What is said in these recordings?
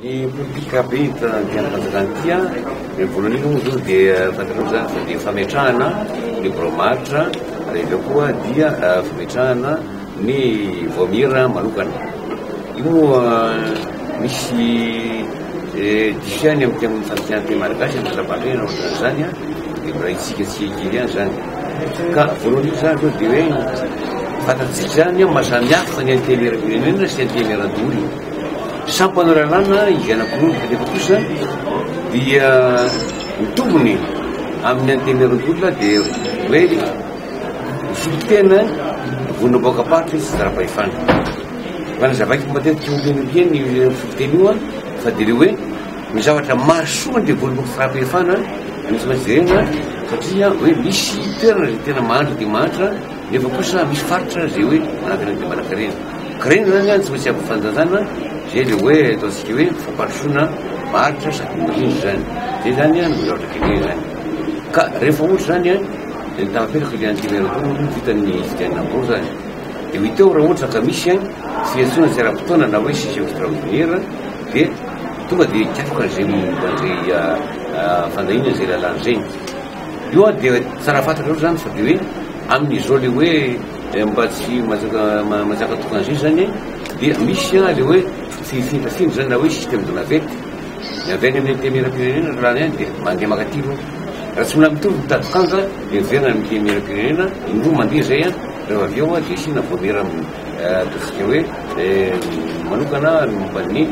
Ny politika be ity andanjalana ity a, ny voalohany indrindra moa izy io dia fantatrao izany fa dia fametrahana ny birao maharitra ary avy eo koa dia fametrahana ny vaomiera manokana. Io moa misy dikany amintsika amin'ny fanatanjahantena malagasy, ny zava-maneno ohatran'izany a, dia mbola hetsika tsy kely ihany izany. Ka voalohany indrindra izany aloha dia hoe fantatsika izany hoe maha samy hafa ny antenimieram-pirenena sy antenimieran-doholona. Sampanao lalàna izy anankiroa kanefa kosa dia ny tombony amin'ny antenimieran-doholona dia hoe misolo tena vonona boaka am-paritra izy tsy zara-pahefana. Fa ny zava-bita matetika tsy ompiana ompiana io misolo tena io fa dia ilay hoe Ny zavatra mahasoa ny devoly fampefana no tsy maintsy jerena satria hoe misy toerana izay tena mahantra dia mahantra nefa kosa misy faritra izay hoe manankarena dia manankarena. Karena izany no tsy maintsy ampy fanajana izay ilay hoe ataontsika hoe fampandrosoana varotra sady mirindra izany. Izay izany no zavatra gaga izany. Ka rehefa ohatra izany dia ny tahapetraka dia an'ity lalana ity no vitan'ny fidianana ambony izany. Dia ho hita eo raha ohatra ka misy tsy fihetsoana tsy ara-potoana na hoe système extraordinaire dia Tonga dia hikatroka izay momba izay fandahiana izay lalàna izay. Io ary dia tsara fantatrareo izany fa dia hoe amin'izao ilay hoe mba tsy manjaka tokana izay izany dia misy ilay hoe fifindrafindra izany na hoe système de navette. Ny avy any amin'ny antenimierampirenena ny lalàna ihany dia mandeha mankaty aloha. Raha tsy mbola mitovy ny tady kanja dia miverina any amin'ny antenimierampirenena, indroa mandeha izay, rehefa avy eo dia asiana vaomiera amin'ny. Ataontsika hoe manokana ny momba ny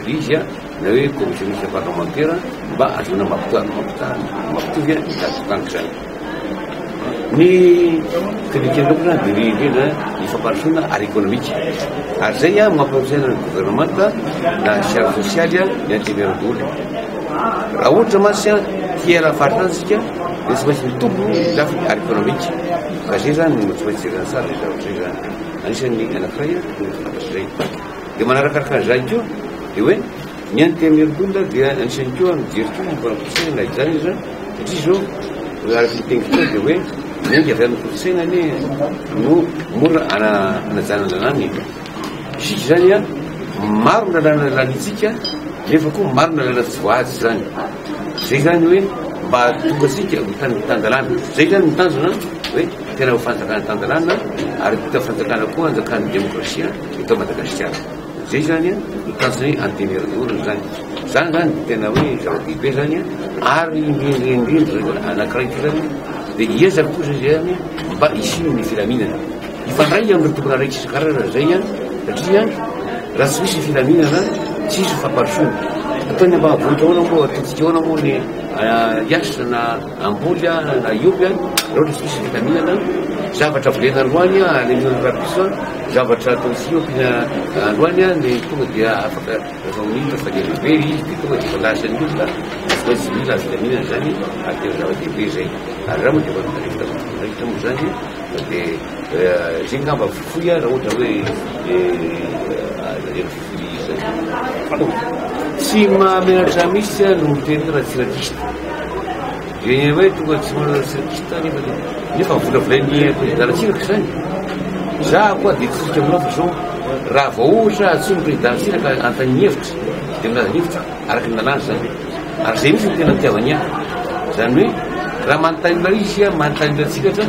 RIGI na hoe Commission Mixte Parlementaire mba ahazoana mampita- mampita- mampitovy ny zava-mitranga izany. Ny fifikirana manokana dia ny indrindra ny fampandrosoana ara-ekonomika. Ary izay no mampanantenaina ny governemanta na sy ara-tsosialy ny anteberandoholona. Raha ohatra mantsy hiaina amin'ny faritany isika dia tsy maintsy mitombo ny lafiny ara-ekonomika. Vazia izany no tsy maintsy jerena tsara izay zavatra izay izany. Anisan'ny anankiray no fantatr'izay. Dia manarakaraka an'izany koa dia hoe ny an'i Temergunda dia anisan'ny koa mijery koa momba ny kolontsaina na izany aza satria izao araka ny teny koa dia hoe miainga avy amin'ny kolontsaina anie no mora anajana ny lalàna e. Isika izany maro ny lalàna lalantsika nefa koa maro ny lalàna tsy voahaja izany. Zay zany hoe mba tonga tsika ho tany tan-dalàna. Zay zany ny tanjona hoe tena ho fanjakana tan-dalàna ary vita fanjakana koa anjakan'ny demokrasia eto Madagasikara. Zay zany no tanjon'ny antenimierandoholona zany. Zany zany no tena hoe zava-dehibe zany ary indrindra indrindra zany anankiray ty zany dia hiezaka kosa izy zany mba hisian'ny filaminana. Mifandray amin'ny tokona raikitra isan-karazany izay satria raha tsy misy ny filaminana tsy hisy ny fampandrosoana. Ataon'ny ambavony daholo moa ataontsika ahoana moa ny IH na Amboly na Ioby raha ohatra tsy misy ny filaminana. Zavatra volena androany alehon'ny rabiso, zavatra ataontsika eo ampiana androany ny tonga dia afaka atao minitra fa dia lehibe izy dia tonga dia voalaza an'ny olona fa tsy mila ny filaminana izany ary tena zava-dehibe izay. Ary raha moa dia efa mifandraika tamin'ny tokona raikitra moa izany. Dia izay ngamba fohy raha ohatra hoe aleo fohy izay tsy mahamenatra misy aho no miteny raha tsy rakista dia ny hoe tonga tsy manana tsy rakista nefa nefa volavolain'ny prezidantsika izany za koa dia tsisika aminao fa zao raha vao ohatra atsoin'ny prezidantsika ka antany ny hevitra dia milaza ny hevitra araka ny lalàna izany Ary izay mihitsy no tena itiavany ahy. Izany hoe raha manontany anao izy aho manontany anao tsika ohatra,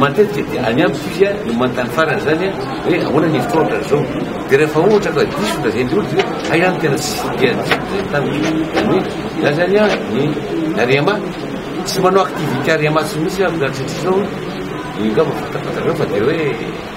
matetika dia any amiko izy aho no manontany farany izany aho hoe ahoana ny hevitrao ohatra izao. Dia rehefa ohatra ka diso ny lazain'ilay olona dia hoe hay aho no tena tsy tia ny zay taminy. Izany hoe ilazany ahy ny Arema. Tsy manao activité Arema tsy mihitsy aho mihoatra an'izao. Io angamba fantafantareo fa dia hoe.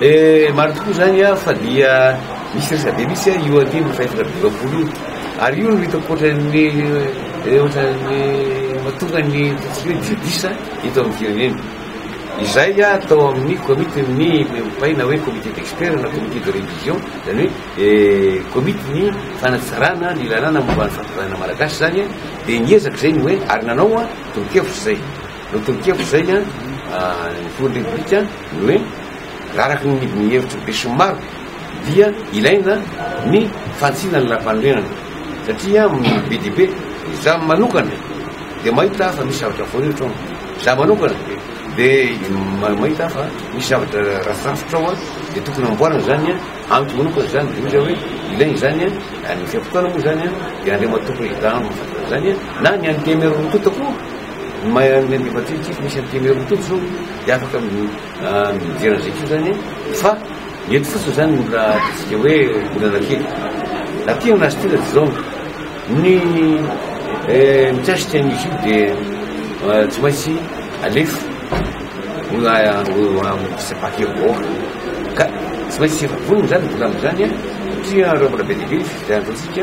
Eh marina tokoa zany a fa dia misy resabe mitsy a io andininy fahefatra amby dimampolo io ary io no hitako ohatran'ny eh, ohatran'ny matonga ny ataontsika hoe diodisa eto amin'ny firenena izay a atao amin'ny komity ny mpay na hoe comité d'expert na comité de révision zany hoe eh, komity ny fanatsarana ny lalàna momba ny fampizanana malagasy zany a dia niezaka izay ny hoe ary nanao a tolokevitra izay Notonon-kevitra izay ny filohan'ny Repoblika ny hoe araka ny hevitr'ny besinimaro dia ilaina ny fantsihana ny lalam-panorenana satria amin'ny be dia be izaho manokana dia mahita aho fa misy zavatra voahiritra ao, izaho manokana dia mahita aho fa misy zavatra rafirafitra ao dia tokony amboarina izany amiko manokana izany dia izay hoe ilaina izany any vanim-potoana moa izany dia Andriamatoa Président no mahafantatra izany na ny an'ny DMR-n'ny kota koa Ny maha an'i Andriamatoa Ity misy an'ity Mero Mitoto izao dia afaka mijery an'izay koa izany fa ny eto fotsiny izany no mbola ataontsika hoe olana kely. Na tiana na tsy tiana dia izao ny eh, mikasika ny YouTube dia eh, tsy maintsy alefa amin'nyfisabaka vahoaka ka tsy maintsy vonona izany volamina izany satria reo mbola be dia be fifidianana ataontsika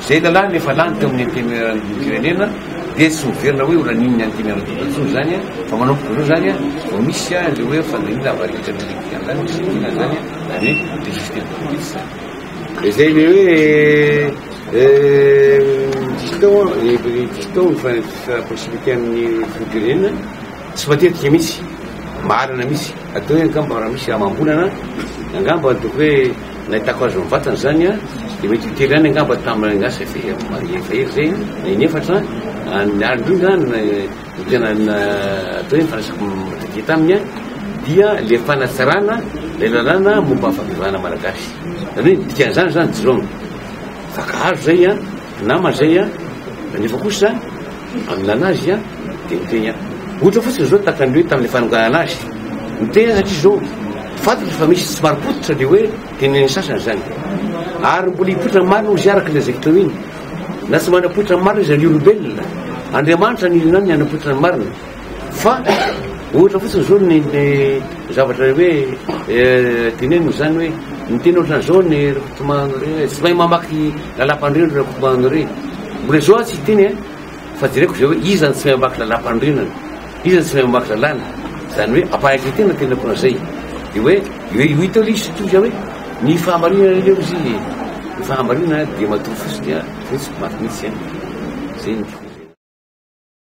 Izay lalàna efa lany teo amin'ny Antenimierandoham-pirenena dia tsy miverina hoe ho lanin'ny Antenimierandoholona intsony izany fa manomboka amin'izao izany vao misy an'ilay hoe fandaniana avaritra ny Rivotra izany no sitoniana izany na ny hoe District de police izany. Izay ilay hoe district district no mifandraisitra proximité amin'ny Filoham-pirenena tsy matetika mihitsy. Marina mihitsy. Hatao hoe angamba raha misy amam-bolana angamba tokony hoe. Nahitako azy mivatana izany an! Dia mety ho tery ihany angamba tamin'ny angaha sy fe marie efa ela izay an! Na in'efatra an! Ny ahy indrindra an! no tena atao hoe nifandraisako matetika taminy an! dia ilay fanatsarana ilay lalàna momba ny fampivahana malagasy. Izany hoe ny dikan'izany izany jirama vaka hazo izay an! namana izay an! nefa kosa. Haminana azy aho dia niteny aho. Ohatra fotsiny izao tahaka ny hoe tamin'ilay fanonganana azy. Niteny aho satria izao, fantatra fa misy tsy marim-pototra ny hoe tenin'ny sasany izany. Ary mbola hipoitra marina hozy araka ilay izay teo iny. Na tsy manam-poitra marina izy raha ny olombelona, Andriamanitra no irinany ny hanam-poitra ny marina. Fa ohatra fotsiny zao ny ny zavatra hoe dineny no zany hoe ny tena ohatra zao ny rikotomano re tsy mahay mamaky lalampandriana ry rikotomano re mbola zao tsy hiteny a fa jereko zay hoe iza no tsy mahay mamaky lalampandriana iza no tsy mahay mamaky lalàna zany hoe ampahaiza tena tena kona zay de hoe hoe io hita io izy toy zay hoe ny fahamarinana io izy ny fahamarinana dia matoa fotsiny a fotsy maty mihitsy a zay ny tiko